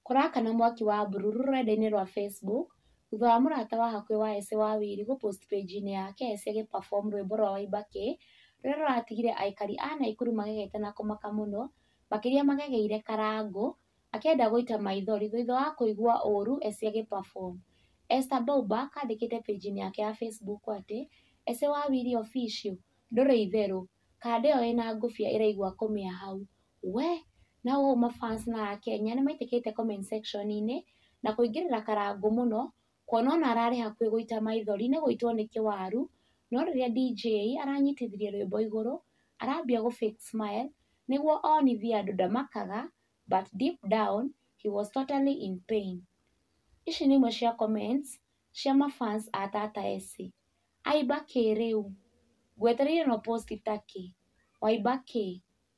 Kũrakana mwaki wa mbururu rũrenda-inĩ rwa Facebook thutha wa mũrata wa hakuhĩ wa Ese Wawiri gũ post page inĩ yake Ese agĩ perform rwĩmbo rwa Waimba Kĩĩ rũrĩa rũratigire aikari a Naikuru magegete na kũmaka mũno makĩria magegeire Karangũ akĩenda gũita maithori thutha wa kũigua ũru Ese agĩ perform. Esther Bauba akandĩkĩte page inĩ yake ya Facebook atĩ Ese Wawiri official ndũrĩ itherũ, kanda ĩyo ĩna ngũbia ĩraigua kũmĩa hau. We na ũũ ma fans ma Akenya nĩ maitĩkĩte comment section -inĩ na kũingĩrĩra karangũ mũno, kuona ona ararĩ hakuhĩ gũita maithori nĩ gũitwo nĩ kĩwaru, no rĩrĩa DJ aranyitithirie rwĩmbo igũrũ, arambia gũ fake smile nĩguo onithie andũ ndamakaga but deep down he was totally in pain. Ici nĩ imwe cia comments cia ma fans a Tata Essie. Aimba kĩĩ rĩu? Ngwetereire no post ta kĩ? Waimba kĩĩ?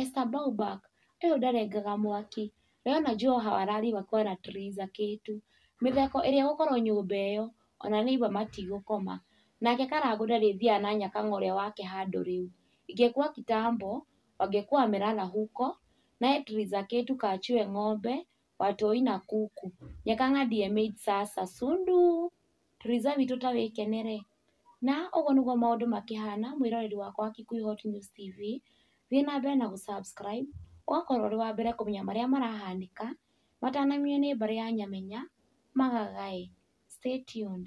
Esther Bauback, ũyũ ndarengaga mwaki, we ona njũĩ o hau arariuga kwara Theresa Kĩtu. Mĩtheko ĩrĩa ĩgũkorwo nyũmba ĩyo, ona nĩ aigua matigũkoma. Nake Karangũ ndarĩthiaga na nyakang'a ũrĩa wake handũ rĩu. Ingĩkua kitambo, wangĩkua amerara huko, naye Theresa Kĩtu kachue ng'ombe, watoi na kuku. Nyakang'a ndiye maid sasa, sunduu. Theresa witũ ta wĩkene-rĩ. Na ũguo nĩguo maũndũ makĩhana mwĩroreri wakwa wa Kikuyu Hot News TV, thiĩ na mbere na gũ subscribe ũgakorwo ũrĩ wa mbere kũmenya marĩa marahanĩka matanamenywo nĩ mbarĩ ya Nyamenya, Magagai. Stay tuned.